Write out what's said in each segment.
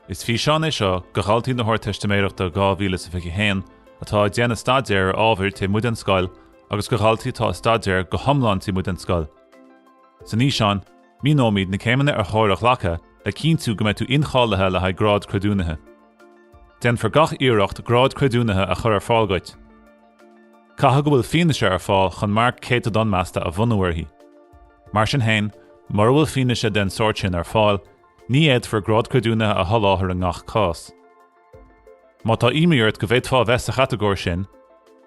Is físeán é seo do dhaltaí na hArdteistiméireachta 2021 atá ag déanamh staidéar ar ábhair taobh amuigh den scoil agus do dhaltaí atá ag staidéar go hiomlán taobh amuigh den scoil. San fhíseán, míneoimid na céimeanna ar chóir a ghlacadh le cinntiú go mbeidh tú incháilithe le haghaidh grád creidiúnaithe. Déanfar gach iarracht grád creidiúnaithe a chur ar fáil duit. Caithfidh go bhfuil fianaise ar fáil chun marc céatadán measta a bhunú uirthi. Mar sin féin, mura bhfuil fianaise den sórt sin ar fáil, Ní fhéadfar grád creidiúnaithe a sholáthar i ngach cás. Má tá imní ort go bhféadfá a bheith sa chatagóir sin,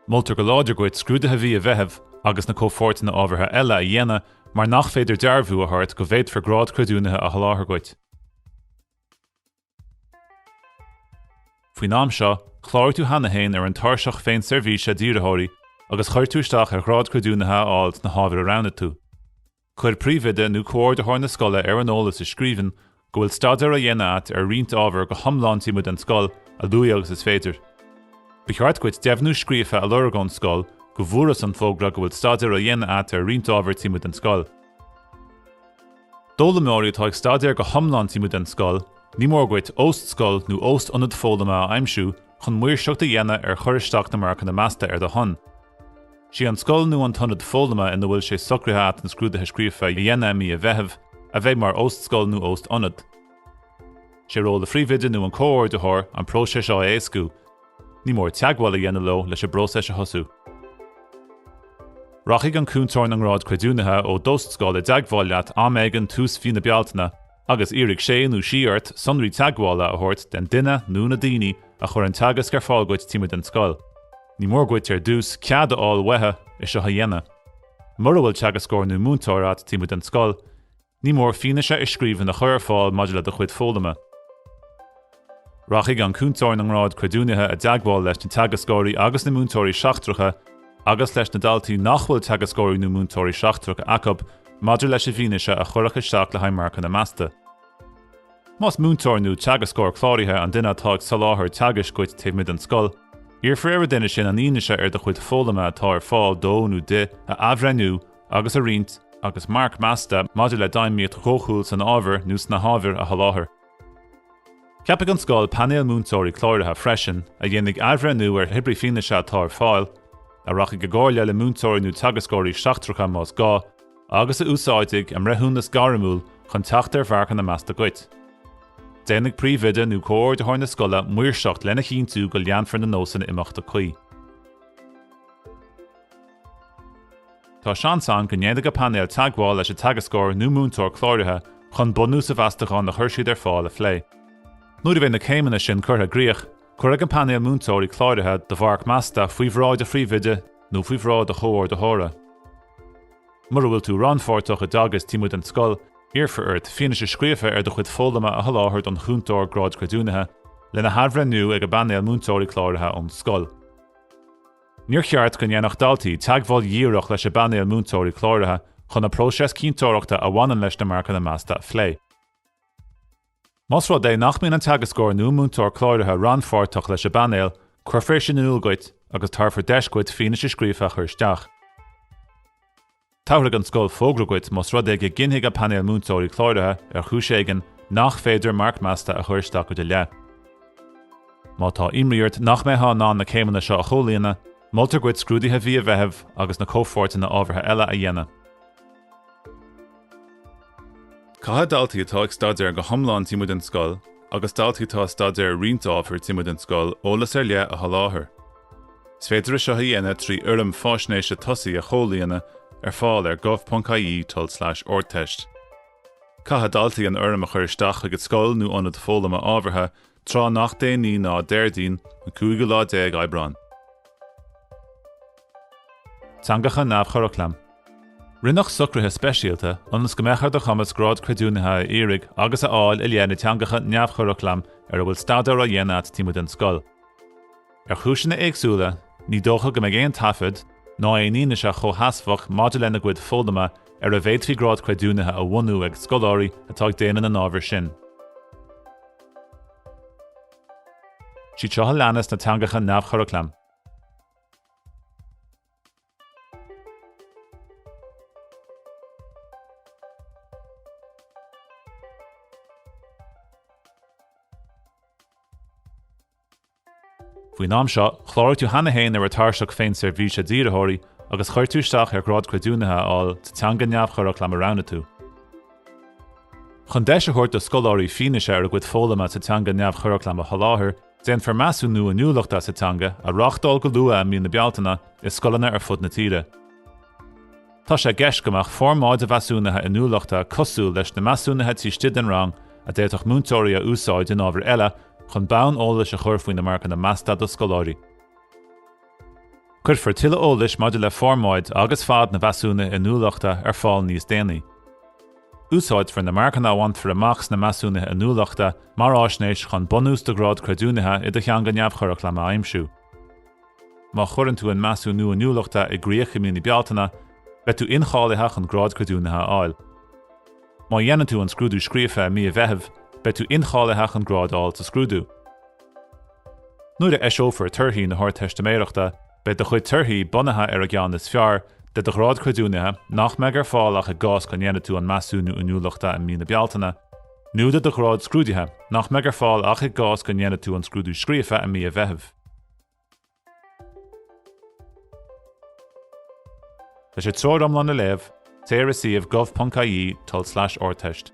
moltar go láidir duit scrúduithe mhí an Mheithimh agus na comhpháirteanna ábhartha eile a dhéanamh mar nach féidir dearbhú a thabhairt go bhféadfar grád creidiúnaithe a sholáthar duit. Faoin am seo, chláraigh tú cheana féin ar an Tairseach Féinseirbhíse d'Iarrthóirí agus chuir tú isteach ar ghrád creidiúnaithe a fháil sna hábhair a roghnaigh tú. Cuir príomhoide nó comhordaitheoir na scoile ar an eolas i scríbhinn go bhfuil staidéar á dhéanamh agat ar roinnt ábhar go hiomlán taobh amuigh den scoil a luaithe agus is féidir. Ba cheart duit deimhniú scríofa a lorg ón scoil go bhfuarthas an fógra go bhfuil staidéar á dhéanamh agat ar roinnt ábhar taobh amuigh den scoil. D'fhoghlaimeoirí atá ag staidéar go hiomlán taobh amuigh den scoil, ní mór dhuit óst scoil nó óst ionad foghlama a aimsiú chun maoirseacht a dhéanamh ar chur isteach na marcanna measta ar do shon. Sí an scoil nó an t-ionad foghlama ina bhfuil sé socraithe at na scrúduithe scríofa a dhéanamh i mí an Mheithimh a bheidh mar óst-scoil nó óst-ionad. Sé ról an phríomhoide nó an comhordaitheoir an próiseas seo a éascú. Ní mór teagmháil a dhéanamh leo leis an bpróiseas a thosú. Rachaidh an cúntóir na ngrád creidiúnaithe ó d'óst-scoil i dteagmháil leat am éigin tús mhí na Bealtaine agus iarrfaidh sé nó sí ort sonraí teagmhála a thabhairt den duine nó na daoine a chuir an teagasc ar fáil duit taobh amuigh den scoil. Ní mór duit ar dtús cead a fháil uathu é seo a dhéanamh. Mura bhfuil teagascóir nó múinteoir agat taobh amuigh den scoil, ní mór fianaise i scríbhinn a chur ar fáil maidir le do chuid foghlama. Rachaidh an Cúntóir na nGrád Creidiúnaithe i dteagmháil leis na teagascóirí agus na múinteoirí seachtracha agus leis na daltaí nach bhfuil teagascóirí nó múinteoirí seachtracha acu maidir leis an bhfianaise a chuirfear isteach le haghaidh marcanna measta. Más múinteoir nó teagascóir cláraithe an duine atá ag soláthar teagaisc duit taobh amuigh den scoil, iarrfar ar an duine sin an fhianaise ar do chuid foghlama atá ar fáil dó nó di a athbhreithniú agus a roinnt agus marc measta maidir le d'fheidhmíocht dhóchúil san ábhar nó sna hábhair a sholáthar. Ceapfaidh an scoil painéal múinteoirí cláraithe freisin, a dhéanfaidh athbhreithniú ar cibé fianaise atá ar fáil, a rachaidh i gcomhairle le múinteoirí nó teagascóirí seachtracha más gá, agus a úsáidfidh a mbreithiúnas gairmiúil chun teacht ar mharcanna measta duit. Déanfaidh príomhoide nó comhordaitheoir na scoile maoirseacht lena chinntiú go leanfar na nósanna imeachta cuí. Tá seans ann go ndéanfaidh an painéal teagmháil leis an teagascóir nó múinteoir cláraithe chun bunús an mheastacháin a chuir siad ar fáil a phlé. Nuair a bheidh na céimeanna sin curtha i gcrích, cuirfidh an painéal múinteoirí cláraithe do mharc measta faoi bhráid an phríomhoide nó faoi bhráid an chomhordaitheora. Mura bhfuil tú rannpháirteach i dteagasc taobh amuigh den scoil, iarrfar ort fianaise scríofa ar do chuid foghlama a sholáthar don Chúntóir Gráid Creidiúnaithe, lena hathbhreithniú ag an bpainéal múinteoirí cláraithe ón scoil. Níor cheart go ndéanfadh daltaí teagmháil dhíreach leis an bpainéal múinteoirí cláraithe chun an próiseas cinnteoireachta a bhaineann leis na marcanna measta a phlé. Más rud é nach mbíonn an teagascóir nó múinteoir cláraithe rannpháirteach leis an bpainéal, cuirfear sin in iúl duit agus tabharfar deis duit fianaise scríofa a chur isteach. Tabharfaidh an scoil fógra duit más rud é go gcinnfidh an Painéal Múinteoirí Cláraithe, ar chúis éigin, nach féidir marc measta a chur isteach i do leith. Má tá imní ort nach mbeifeá in ann na céimeanna seo a chomhlíonadh, moltar duit scrúduithe mhí an Mheithimh agus na comhpháirteanna ábhartha eile a dhéanamh. Caithfidh daltaí atá ag staidéar go hiomlán taobh amuigh den scoil agus daltaí atá ag staidéar roinnt ábhar taobh amuigh den scoil eolas ar leith a sholáthar. Is féidir é seo a dhéanamh trí fhoirm faisnéise tosaigh a chomhlíonadh, ar fáil ar gov.ie tulslais ardteist. Caithfidh daltaí an fhoirm a chur isteach chuig an scoil nó ionad foghlama ábhartha tráth nach déanaí ná Déardaoin, an cúigiú lá déag Aibreán. Teangacha neamh-churaclaim. Rinneadh socruithe speisialta ionas go mbeadh ar do chumas Grád Creidiúnaithe a iarraidh agus a fháil i leith na dteangacha neamh-churaclaim ar a bhfuil staidéar á dhéanamh agat taobh amuigh den scoil. Ar chúiseanna éagsúla, ní dócha go mbeidh aon taifead ná aon fhianaise chomhsheasmhach maidir lena gcuid foghlama ar a bhféadfaí grád creidiúnaithe a bhunú ag scoláirí atá ag déanamh na n-ábhar sin. Siad seo a leanas na teangacha neamhchuraclaim. Faoin am seo, chláraigh tú cheana féin ar an Tairseach Féinseirbhíse d'Iarrthóirí agus chuir tú isteach ar Ghrád Creidiúnaithe a fháil sa teanga neamhchuraclaim a roghnaigh tú. Chun deis a thabhairt do scoláirí fianaise ar a gcuid foghlama sa teanga neamhchuraclaim a sholáthar, déanfar Measúnú Inniúlachta sa Teanga a reáchtáil go luath i mí na Bealtaine i scoileanna ar fud na tíre. Tá sé i gceist go mbeadh formáid an mheasúnaithe inniúlachta cosúil leis na measúnuithe taobh istigh den rang a d'fhéadfadh múinteoirí a úsáid in ábhair eile chun bonn eolais a chur faoi na marcanna measta do scoláirí. Cuirfear tuilleadh eolais maidir le formáid agus fad an mheasúnaithe inniúlachta ar fáil níos déanaí. Úsáidfear na marcanna a bhainfear amach sna measúnuithe inniúlachta mar fhaisnéis chun bunús do ghrád creidiúnaithe i do theanga neamhchuraclaim a aimsiú. Má chuireann tú an Measúnú Inniúlachta i gcrích i mí na Bealtaine, beidh tú incháilithe chun Grád Creidiúnaithe a fháil. Má dhéanann tú an scrúdú scríofa i mí an Mheithimh, beidh tú incháilithe chun grád a fháil sa scrúdú. Nuair a eiseofar torthaí na hArdteistiméireachta, beidh do chuid torthaí bunaithe ar an gceann is fearr de do Ghrád Creidiúnaithe nach mbeidh ar fáil ach i gcás go ndéanfaidh tú an Measúnú Inniúlachta i mí na Bealtaine, nó de do ghrád scrúduithe, nach mbeidh ar fáil ach i gcás go ndéanfaidh tú an scrúdú scríofa i mí an Mheithimh. Leis an treoir iomlán a léamh, téigh ar an suíomh gov.ie, tulslais ardteist.